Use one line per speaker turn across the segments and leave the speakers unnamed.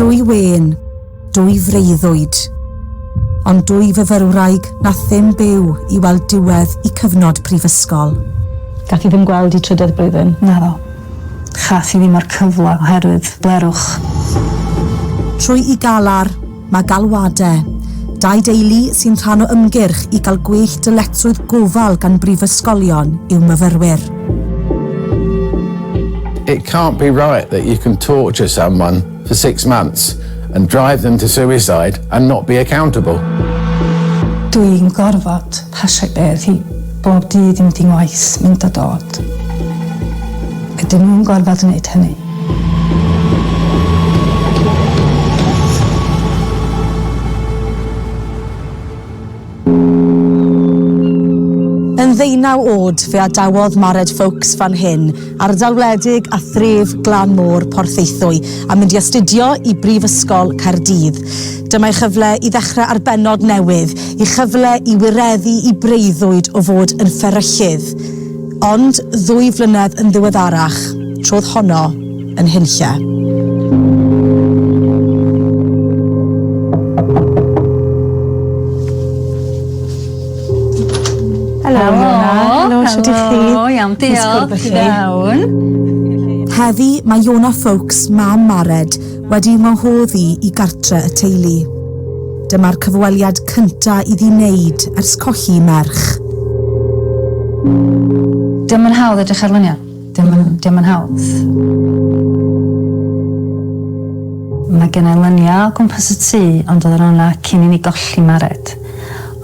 Dwy wen, dwy freuddwyd, ond dwy fyfyrwraig na ddim byw i weld diwedd i cyfnod prifysgol. Gath i ddim
gweld i trydedd blwyddyn. Naddo.
Chath i ddim o'r cyfle oherwydd blerwch.
Trwy i galar, Mae galwadau dau deulu sy'n rhan o ymgyrch i gael gwell dyletswydd gofal gan brifysgolion i'w myfyrwyr.
It can't be right that you can torture someone for six months and drive them to suicide and not be accountable.
Dw i'n gorfod pasio bedd hi. Bob dydd i mynd i ngwaith, mynd a dod. Ydyn nhw'n gorfod wneud hynny?
Yn ddeunaw oed, fe adawodd Mared Foulkes fan hyn, ardal wledig a thref glan môr Porthaethwy a mynd i astudio i Brifysgol Caerdydd. Dyma ei chyfle i ddechrau ar bennod newydd, i chyfle i wireddu i breuddwyd o fod yn fferyllydd. Ond ddwy flynedd yn ddiweddarach, trodd honno yn hunlle.
Helo. Helo. Helo, shwt ych chi? Helo, iawn, diolch.
Ti'n iawn?
Heddi mae Iona Foulkes, mam Mared, wedi ymwnghodd i i gartre y teulu. Dyma'r cyfweliad cynta iddi wneud ers colli merch.
Dio'm yn hawdd edrych ar luniau. Dio'm yn, dio'm yn hawdd. Mae gen i lynia o gwmpas y tŷ ond oedden nhw yna cyn i ni golli Mared.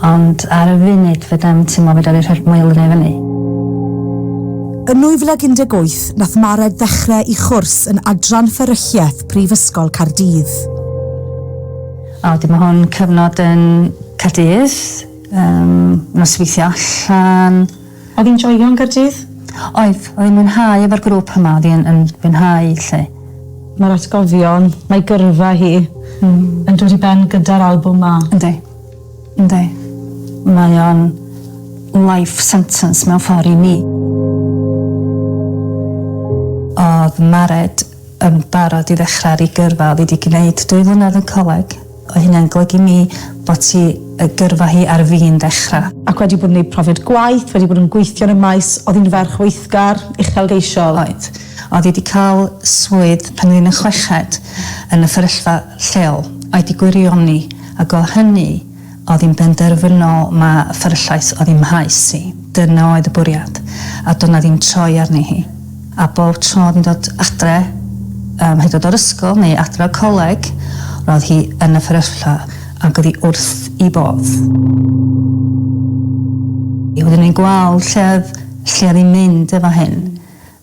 Ond ar y funud fedrai'm teimlo fedra fi rhoi'r moelynia i fyny.
Yn 2018 nath Mared ddechre i chwrs yn Adran Fferylliaeth Prifysgol Caerdydd. A wedyn
ma' hwn cyfnod yn Caerdydd, yym nosweithio allan, Oedd hi'n joio
yn Gaerdydd? Oedd, oedd hi'n
mwynhau efo'r grŵp yma, oedd hi yn yn fwynhau 'lly. Mae'r
atgofion, mae gyrfa hi yn dod i ben gyda'r albwm 'ma. Yndi. Yndi.
Mae o'n life sentence mewn ffor i mi. O'dd Mared yn barod i ddechra ar 'i gyrfa, o'dd 'i 'di gneud dwy flynedd yn coleg, Mae hynna'n golygu mi fod ti y gyrfa hi ar fin ddechrau. Ac wedi bod yn neud profiad
gwaith, wedi bod yn gweithio yn y maes, oedd hi'n ferch weithgar, uchelgeisiol. Oedd. Oedd
hi 'di cael swydd pan oedd hi'n y chweched yn y fferyllfa lleol, oedd 'di gwirioni, ac o hynny oedd hi'n benderfynol ma fferyllais oedd hi'n mhaes hi. Dyna oedd y bwriad. A doedd 'na ddim troi arni hi. A bob tro oedd hi'n dod adre, ym mhedod o'r ysgol neu adre o'r coleg, roedd hi yn y fferyllfa ac oedd hi wrth i bodd. I wedyn ni'n gweld lle oedd, lle oedd hi'n mynd efo hyn.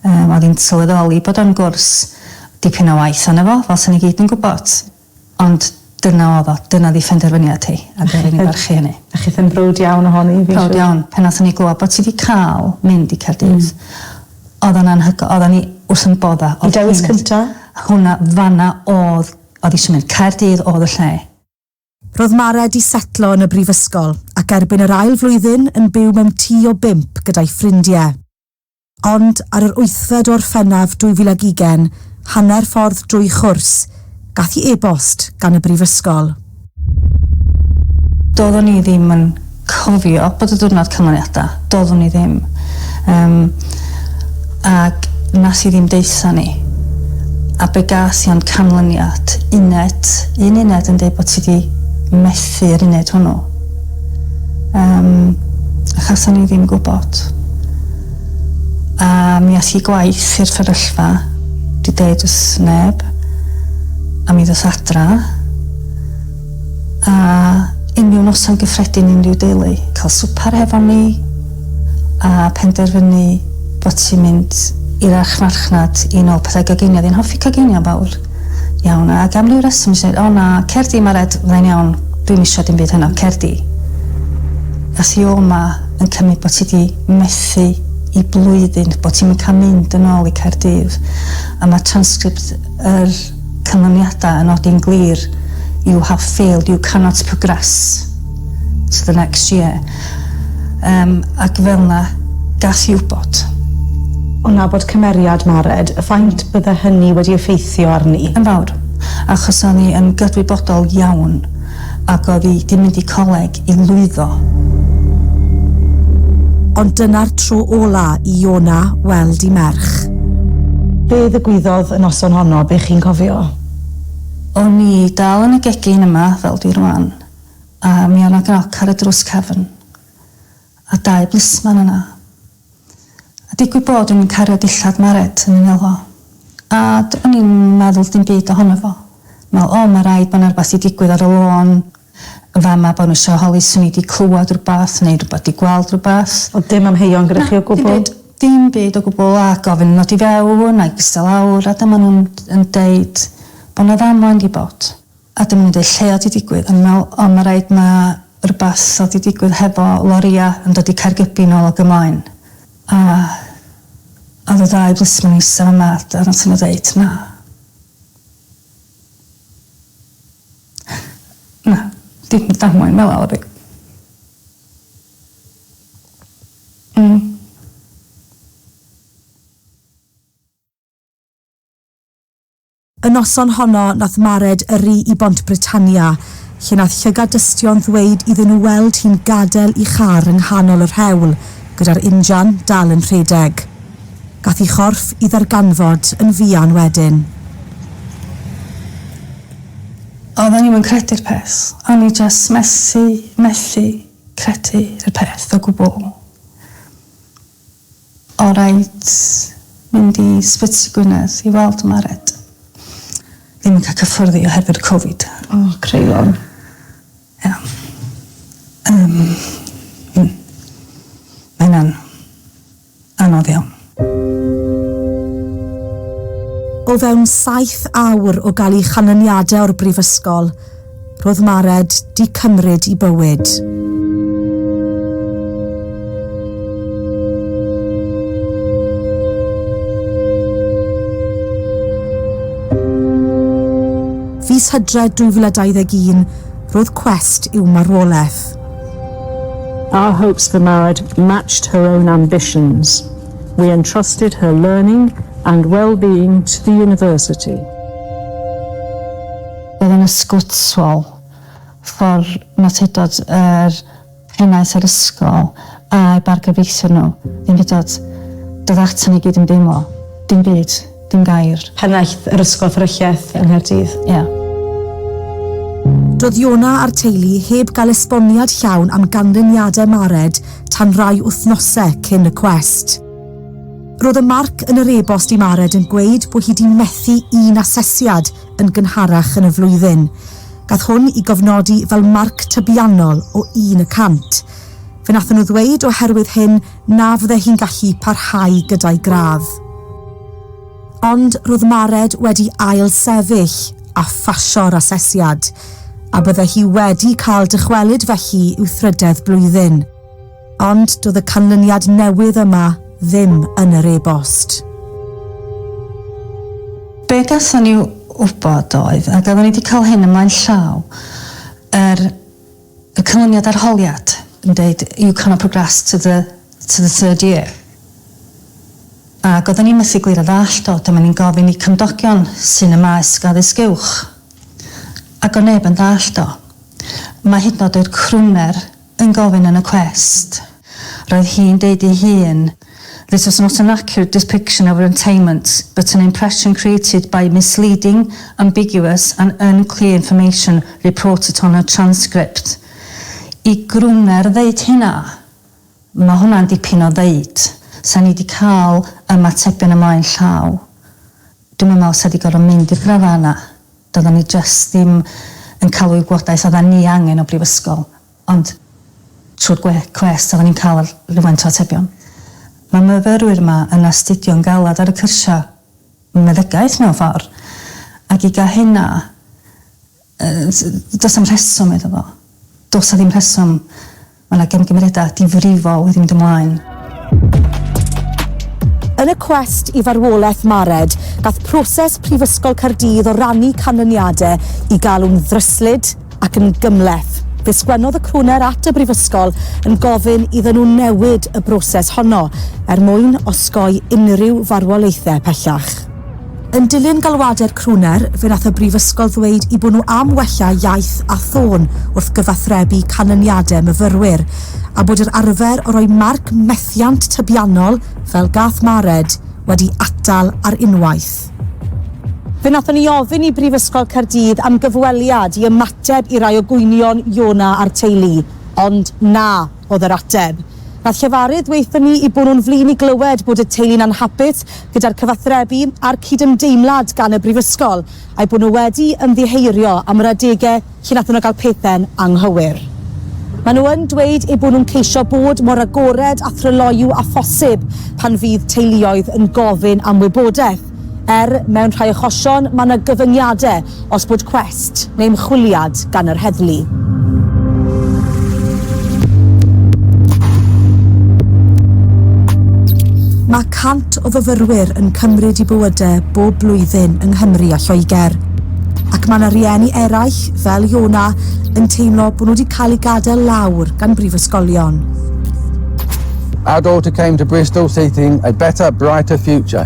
Yym oedd hi'n sylweddoli bod o'n gwrs dipyn o waith arno fo, fel 'sen ni gyd yn gwybod. Ond dyna odd o. Dyna o'dd 'i phenderfyniad hi a dwi rili barchu hynny. A chith yn browd iawn
ohoni fi'n siŵr. Prowd iawn. Pan nathon
ni glwad bo' ti 'di ca'l mynd i Caerdydd odd o'n anhygo- oddan ni wrth 'yn bodda. Y dewis cynta?
Hwnna fan
'na odd o'dd isio mynd. Caerdydd odd y lle. Ro'dd
Mare 'di setlo yn y brifysgol ac erbyn yr ail flwyddyn yn byw mewn tŷ o bump gyda'i ffrindie. Ond ar yr wythfed o Orffennaf 2020, hanner ffordd drwy chwrs, gath hi e-bost gan y brifysgol.
Doeddwn i ddim yn cofio bod y diwrnod canlyniadau, doeddwn i ddim, yym, ac wnes i ddim deutha ni. A be gas i ond canlyniad, uned, un uned yn deud bod ti 'di methu yr uned hwnnw. Yym, achos o'n i ddim gwybod. A mi ath i gwaith i'r fferyllfa, di deud wrth neb, a mi ddoth adra, a unrhyw noson gyffredin unrhyw deulu, cael swpar hefo ni, a penderfynu bod ti'n mynd i'r archfarchnad i nôl pethau goginio, oedd hi'n hoffi coginio yn fawr. Iawn, ac am ryw reswm nes i ddeud, o na, cer di, mae'r ed, fyddai'n iawn, dwi'm isio dim byd heno, cer di. Ddath i ôl ma yn cymryd bod ti di methu i blwyddyn, bod ti'm yn cael mynd yn ôl i Caerdydd, a mae transcript yr canlyniadau yn nodi'n glir, you have failed, you cannot progress to the next year. Yym, ac fel 'na, gas i wybod. O
nabod cymeriad Mared, faint bydde hynny wedi effeithio
arni?
Yn fawr,
achos o'n i yn gydwybodol iawn, ac oedd 'i 'di mynd i coleg i lwyddo.
Ond dyna'r tro ola' i Iona weld 'i merch. Be'
ddigwyddodd y noson honno, be' chi'n cofio?
O'n i dal yn y gegin yma, fel dwi rwan. A mi o' 'na groc ar y drws cefn, a dau blisman yna. A digwydd bod o'n i'n cario dillad Mared yn 'y ngel fo. A do'n i'm yn meddwl dim byd ohono fo. Me'wl, O, ma' raid bo' 'na rwbath 'di digwydd ar y lôn yn fa' 'ma, bo' nw isio holi swn i 'di clwad rwbath neu rwbath, 'di gweld rwbath. Ond dim amheuon
gyda chi o gwbwl? Na, dim byd. Dim byd o
gwbwl, a gofyn yn ddod i fewn, a i ista lawr, a dyma nw'n yn deud bo' 'na ddamwain 'di bod. A dwi'm yn deud lle o'dd 'di digwydd o'n i'n me'wl o ma' raid ma' rwbath o'dd 'di digwydd hefo loria yn dod i Caergybi nôl ag ymlaen a o'dd y ddau blismon eista fama a d- a nathon n'w ddeud na. Na dim damwain fela o'dd 'i. Hmm.
Y noson honno nath Mared yrru i Bont Britannia, lle nath llygad dystion ddweud iddyn nhw weld hi'n gadel 'i char yng nghanol yr hewl, gyda'r injan dal yn rhedeg. Gath 'i chorff 'i ddarganfod yn fuan wedyn.
Oedden ni 'im yn credu'r peth. O'n i jyst methu, methu credu y peth o gwbwl. Alright, mynd i Sbyty Gwynedd i weld Mared. Ddim yn cael cyffyrddi oherwydd Covid. O, creion.
Ia.
Yym, mm. Mae hynna'n anodd iawn.
O fewn saith awr o gael ei chanlyniadau o'r brifysgol, ro'dd Mared 'di cymryd 'i bywyd. Fis Hydref 2021, ro'dd cwest i'w marwoleth.
Our hopes for Mared matched her own ambitions. We entrusted her learning and well-being to the University.
Bydd yn ysgwtwol ffordd Mawtedod yr Henaint a'r Ysgol a'u bargyfreithiwr nhw, ddim hyd at dod atan ni gyd yn deimlo. Dim byd. Dim gair. Pennaeth yr Ysgol
Fferylliaeth yng Nghaerdydd. Ie.
Doedd
Iona a'r teulu heb gael esboniad llawn am ganlyniadau Mared tan rai wythnosau cyn y cwest. Roedd y marc yn yr e-bost i Mared yn gweud bod hi 'di methu un asesiad yn gynharach yn y flwyddyn. Gath hwn i gofnodi fel marc tybiannol o un y cant. Fe nathon nhw ddweud oherwydd hyn na fydde hi'n gallu parhau gyda'i gradd. Ond ro'dd Mared wedi ail sefyll a phasio'r asesiad, a bydde hi wedi cael dychwelyd felly i'w thrydedd blwyddyn. Ond doedd y canlyniad newydd yma ddim yn yr e-bost.
Be gawson ni wybod oedd, ac oedden ni wedi cael hyn ymlaen llaw, yr y canlyniad arholiad yn deud you cannot progress to the to the third year. Ac oedden ni methu glir a ddallt o, dyma ni'n gofyn i cymdogion sy'n y maes addysg uwch. Ac o neb yn ddallt o. Mae hyd yn oed yr crwner yn gofyn yn y cwest. Roedd hi'n deud ei hun, This was not an accurate depiction of entailment, but an impression created by misleading, ambiguous and unclear information reported on her transcript. I Gruner ddeud hynna? Mae hwnna'n dipyn o ddeud. Sa ni 'di cael ymatebion ymlaen llaw. Dwi'm yn meddwl sa 'di gorfod mynd i'r grafanna. Doeddan ni jyst ddim yn cael y wybodaeth oeddan ni angen o brifysgol, ond trwy'r gwe, cwest oeddan ni'n cael rhywfaint o atebion. Mae myfyrwyr yma yn astudio'n galed ar y cyrsiau meddygaeth mewn ffordd, ac i gael hynna, yy, does am rheswm iddo fo. Does a ddim rheswm. Mae 'na gymgymeriadau difrifol wedi mynd ymlaen.
Yn y cwest i farwolaeth Mared, gall proses Prifysgol Caerdydd o rannu canlyniadau i galw'n ddryslyd ac yn gymhleth. Fe sgwennodd y crwner at y Brifysgol yn gofyn iddyn nhw newid y broses honno er mwyn osgoi unrhyw farwolaethau pellach. Yn dilyn galwadau'r crwner, fe wnaeth y brifysgol ddweud eu bod nhw am wella iaith a thôn wrth gyfathrebu canlyniadau myfyrwyr, a bod yr arfer o roi marc methiant tybiannol, fel gath Mared, wedi atal ar unwaith. Fe wnaethon ni ofyn i Brifysgol Caerdydd am gyfweliad i ymateb i rai o gwynion Iona a'r teulu, ond na. oedd yr ateb. Nath llefarydd ddweutho ni i bo nhw'n flin i glywed bod y teulu'n anhapus gyda'r cyfathrebu a'r cydymdeimlad gan y brifysgol, a'i bod nhw wedi ymddiheurio am yr adege lle nathon nhw gael pethe'n anghywir. Maen nhw yn dweud eu bod nhw'n ceisio bod mor agored a thryloyw â phosib pan fydd teuluoedd yn gofyn am wybodaeth. er mewn rhai achosion mae yna gyfyngiadau os bod cwest neu ymchwiliad gan yr heddlu. Mae 100 o fyfyrwyr yn cymryd i bywydau bob blwyddyn yng Nghymru a Lloegr, ac mae yna rieni eraill, fel Iona, yn teimlo bod nhw wedi cael eu gadael lawr gan brifysgolion.
Our daughter came to Bristol seeking a better, brighter future.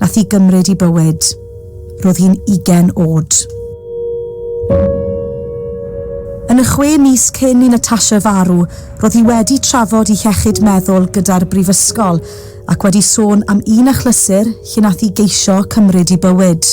Nath hi gymryd i bywyd. Ro'dd hi'n ugen o'd. Yn y chwe mis cyn i Natasha farw, ro'dd hi wedi trafod 'i hiechyd meddwl gyda'r brifysgol ac wedi sôn am un achlysur lle nath hi geisio cymryd 'i bywyd.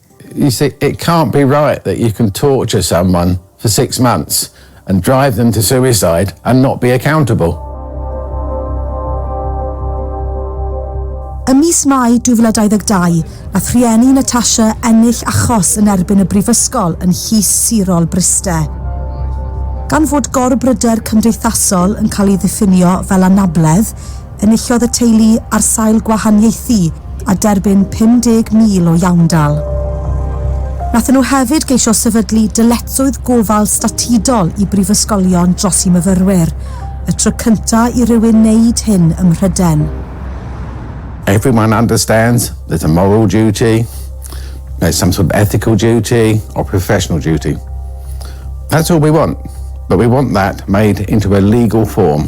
You
see, it can't be right that you can torture someone for six months and drive them to suicide and not be accountable.
Ym mis Mai 2022, nath rhieni Natasha ennill achos yn erbyn y brifysgol yn Llys Sirol Bryste. Gan fod gorbryder cymdeithasol yn cael ei ddiffinio fel anabledd, Enillodd y teulu ar sail gwahaniaethu a derbyn 50,000 o iawndal. Nathon nhw hefyd geisio sefydlu dyletswydd gofal statudol i brifysgolion dros i myfyrwyr, y tro cynta i rywun wneud hyn ym Mhryden.
Everyone understands there's a moral duty, there's some sort of ethical duty or professional duty. That's all we want, but we want that made into a legal form.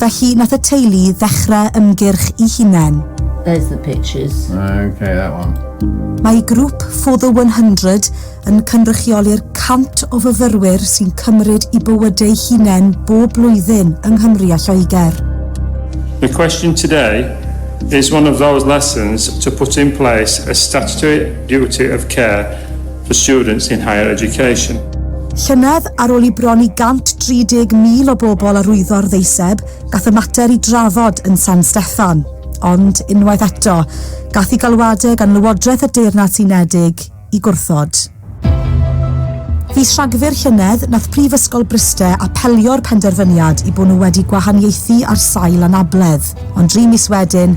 Felly nath y teulu ddechre ymgyrch i hunen. There's the
pictures. Ok, that one.
Mae grwp
For the 100 yn cynrychioli'r 100 o fyfyrwyr sy'n cymryd i bywydeu hunen bob blwyddyn yng Nghymru a Lloegr. The
question today is one of those lessons to put in place a statutory duty of care for students in higher education. Llynedd,
ar ôl i bron i 130,000 o bobl arwyddo'r ddeiseb, gath y mater i drafod yn San Steffan. Ond, unwaith eto, gath i galwadau gan Lywodraeth y Deyrnas Unedig i gwrthod. Fis Rhagfyr llynedd, nath Prifysgol Bryste apelio'r penderfyniad i bod nhw wedi gwahaniaethu ar sail anabledd. Ond dri mis wedyn,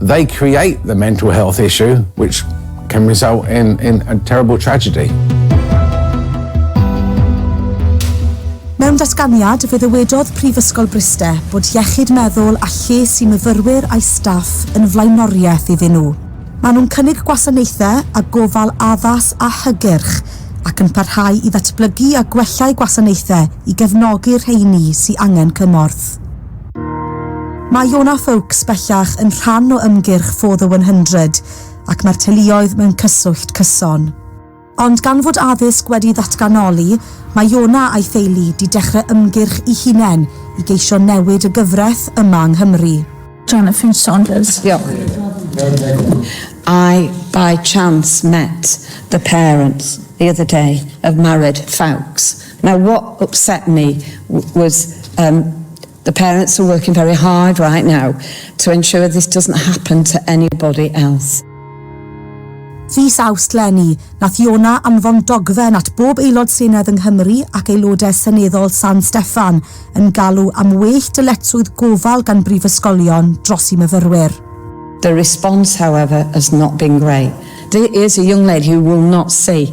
They create the mental health issue which can result in in a terrible tragedy.
Mewn datganiad, fe ddywedodd Prifysgol Bryste bod iechyd meddwl a lles i myfyrwyr a'i staff yn flaenoriaeth iddyn nhw. Maen nhw'n cynnig gwasanaethau a gofal addas a hygyrch ac yn parhau i ddatblygu a gwella'u gwasanaethau i gefnogi'r rheiny sy angen cymorth. Mae Iona Foulkes bellach yn rhan o ymgyrch For the 100 ac mae'r teuluoedd mewn cyswllt cyson. Ond gan fod addysg wedi ddatganoli, mae Iona a'i theulu 'di dechrau ymgyrch i hunen i geisio newid y gyfraith yma yng Nghymru. Jonathan
Saunders. Diolch.
I by chance met the parents the other day of married Foulkes. Now what upset me was um the parents are working very hard right now to ensure this doesn't happen to anybody else.
Fis Awst 'leni, nath Iona anfon dogfen at bob Aelod Senedd yng Nghymru ac Aelodau Seneddol San Steffan yn galw am well dyletswydd gofal gan brifysgolion dros i myfyrwyr. The
response however has not been great. There is a young lady who will not see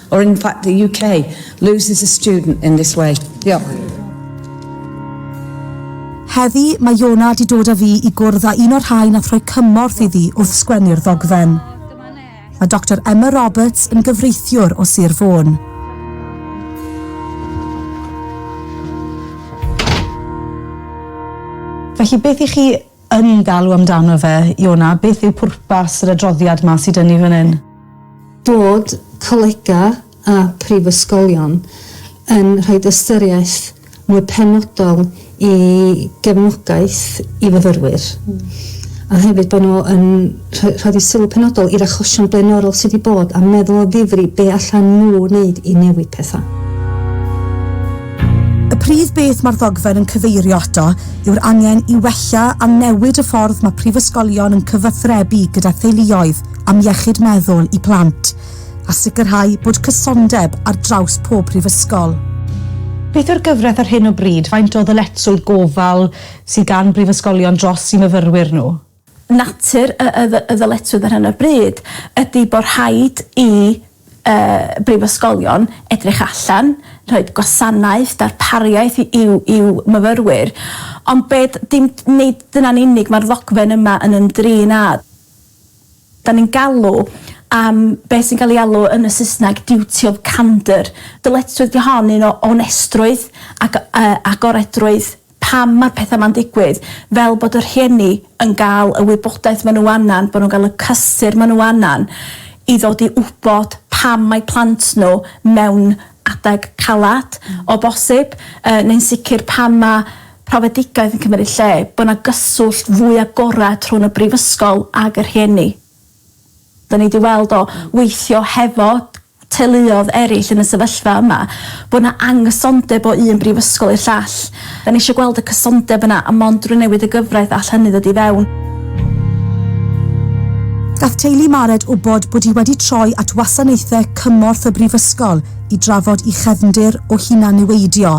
or in fact the UK, loses a student in this way. Diolch.
Heddi, mae Iona di dod â fi i gwrdd â un o'r rhai nath rhoi cymorth iddi wrth sgwennu'r ddogfen. Mae Dr Emma Roberts yn gyfreithiwr o Sir Fôn.
Felly beth i chi yn galw amdano fe, Iona, beth yw pwrpas yr adroddiad 'ma sy 'da ni fan hyn? Bod
colegau a phrifysgolion yn rhoi ystyriaeth mwy penodol i gefnogaeth i fyfyrwyr a hefyd bod nhw yn Rhaid i sylw penodol i'r achosion blaenorol sydd wedi bod a meddwl o ddifri be allan nhw wneud i newid pethau.
Y prif beth mae'r ddogfen yn cyfeirio ato yw'r angen i wella a newid y ffordd mae prifysgolion yn cyfathrebu gyda theuluoedd am iechyd meddwl i plant, a sicrhau bod cysondeb ar draws pob prifysgol. Beth yw'r
gyfraith ar hyn o bryd? Faint o ddyletswydd gofal sydd gan brifysgolion dros i myfyrwyr nhw? Natur
y y y ddyletswydd ar hyn o bryd ydy bod rhaid i y brifysgolion edrych allan, rhoi gwasanaeth, darpariaeth i i'w i'w myfyrwyr, ond be d- dim nid dyna'n unig mae'r ddogfen yma yn ymdrin â. Dan ni'n galw am be sy'n cael ei alw yn y Saesneg 'duty of candour'. Dyletswydd 'di hon, un o onestrwydd ac yy agoredrwydd. pam ma'r petha ma'n digwydd, fel bod y rhieni yn ga'l y wybodaeth ma' nhw angan, bo' nhw'n ga'l y cysur ma' nhw angan i ddod i wbod pam mae plant nhw mewn adeg calad, o bosib, yy neu'n sicr pan ma' profedigaeth yn cymryd lle, bo' 'na gyswllt fwy agored rhwng y brifysgol ag y rhieni. Dan ni 'di weld o weithio hefo teuluoedd eraill yn y sefyllfa yma, bod 'na anghysondeb o un brifysgol i'r llall. Dan ni isio gweld y cysondeb yna a mond drwy newid y gyfraith all hynny ddod i fewn.
Gall teulu Mared wybod bod hi wedi troi at wasanaethau cymorth y brifysgol i drafod i chefndir o hunan-niweidio.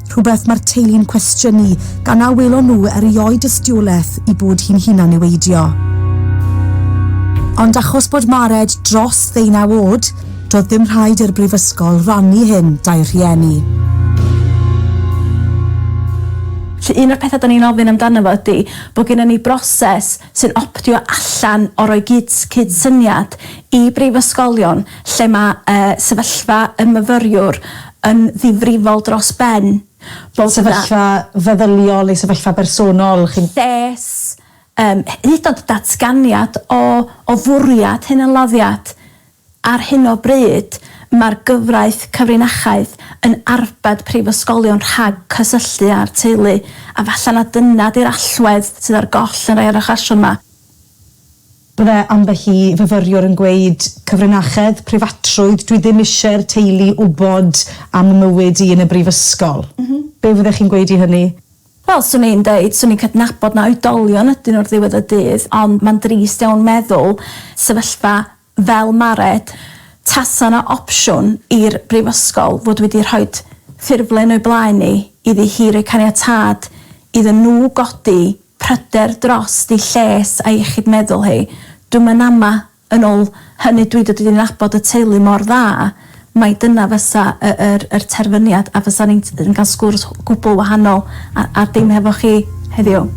rhywbeth mae'r teulu'n cwestiynu gan na welon nhw erioed dystiolaeth i bod hi'n hunan-niweidio. Ond achos bod Mared dros ddeunaw oed, doedd ddim rhaid i'r brifysgol rannu hyn 'da'i rhieni. Felly
un o'r pethau 'da ni'n ofyn amdano fo ydy bod gennym ni broses sy'n optio allan o roi cydsyniad i brifysgolion lle mae sefyllfa y myfyriwr yn ddifrifol dros ben, bod 'na... Sefyllfa
feddyliol neu sefyllfa bersonol, chi'n... Lles,
hyd yn oed datganiad o fwriad hunanladdiad. Ar hyn o bryd, mae'r gyfraith cyfrinachedd yn arbed prifysgolion rhag cysylltu â'r teulu, a falle na dyna 'di'r allwedd sydd ar goll yn rhai o'r achosion 'ma.
Byddai ambell i fyfyriwr yn gweud, 'Cyfrinachedd, preifatrwydd, dwi ddim eisiau'r teulu wybod am 'y mywyd i yn y brifysgol'. Be' fyddech chi'n gweud i hynny? Wel, 'swn i'n
deud, 'swn i'n cydnabod na oedolion ydyn nhw ar ddiwedd y dydd, ond mae'n drist iawn meddwl sefyllfa fel Mared, tasa 'na opsiwn i'r Brifysgol fod wedi rhoi ffurflen o'i blaen hi iddi hi roi caniatâd iddyn nhw godi pryder drost ei lles a'i iechyd meddwl hi. Dwi'm yn ama, yn ôl hynny dwi 'di dod i nabod y teulu mor dda, mai dyna fysa y yr yr terfyniad a fysa ni'n t- yn ga'l sgwrs gwbwl wahanol a a dim hefo chi heddiw.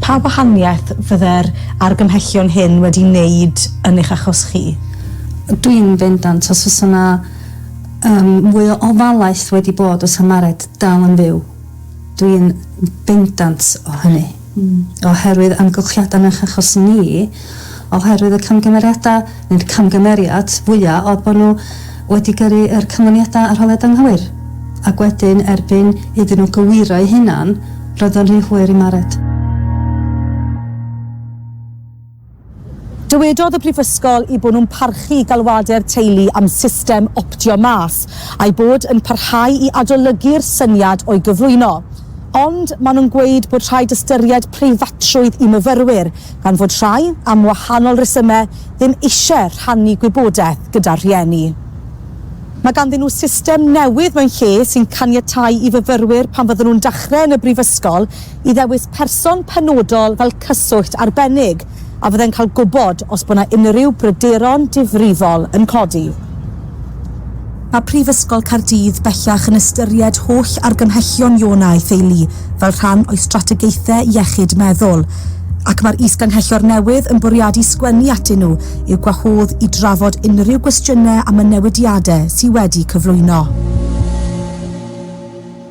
Pa wahaniaeth fydde'r argymhellion hyn wedi neud yn eich achos chi? Dwi'n
bendant, os fysa 'na yym mwy o ofalaeth wedi bod fysa Mared dal yn fyw. Dwi'n bendant o hynny. oherwydd amgylchiadau nac achos ni, oherwydd y camgymeriadau, neu'r camgymeriad fwya oedd bod nhw wedi gyrru yr canlyniadau arholiad anghywir, ac wedyn erbyn iddyn nhw gywiro'u hunan, roedd o'n rhy hwyr i Mared.
Dywedodd y Brifysgol eu bod nhw'n parchu galwadau'r teulu am system optio mas, a'u bod yn parhau i adolygu'r syniad o'i gyflwyno. Ond maen nhw'n gweud bod rhaid ystyried preifatrwydd i myfyrwyr, gan fod rhai, am wahanol resymau, ddim eisiau rhannu gwybodaeth gyda'r rhieni. Mae ganddyn nhw system newydd mewn lle sy'n caniatáu i fyfyrwyr pan fydden nhw'n dechrau yn y brifysgol, i ddewis person penodol fel cyswllt arbennig a fyddai'n cael gwybod os bod 'na unrhyw bryderon difrifol yn codi. Mae Prifysgol Caerdydd bellach yn ystyried holl argymhellion Iona a'i theulu fel rhan o'i strategaethau iechyd meddwl, ac mae'r Is-Ganghellor newydd yn bwriadu sgwennu atyn nhw i'w gwahodd i drafod unrhyw gwestiynau am y newidiadau sydd wedi cyflwyno.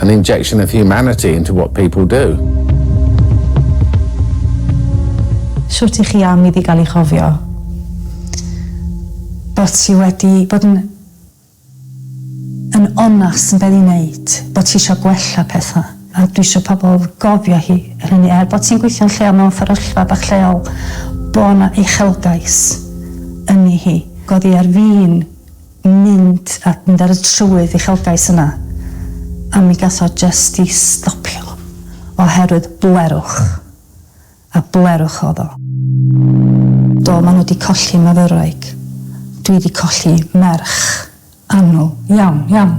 an injection of humanity into what people do.
Shwt i chi am iddi gael ei chofio?
Bod ti wedi bod yn yn onast yn be' ti'n neud, bod ti isio gwella petha, a dwi isio pobl gofio hi yr hynny, er bod ti'n gweithio'n lleol mewn fferyllfa bach lleol, bo' 'na uchelgais yni hi. Godi ar fin mynd a mynd ar y trywydd uchelgais yna, a mi gath o jyst 'i stopio oherwydd bwerwch, a bwerwch o'dd o. Do, ma' nhw 'di colli myfyrwraig. Dwi 'di colli merch annwl iawn, iawn.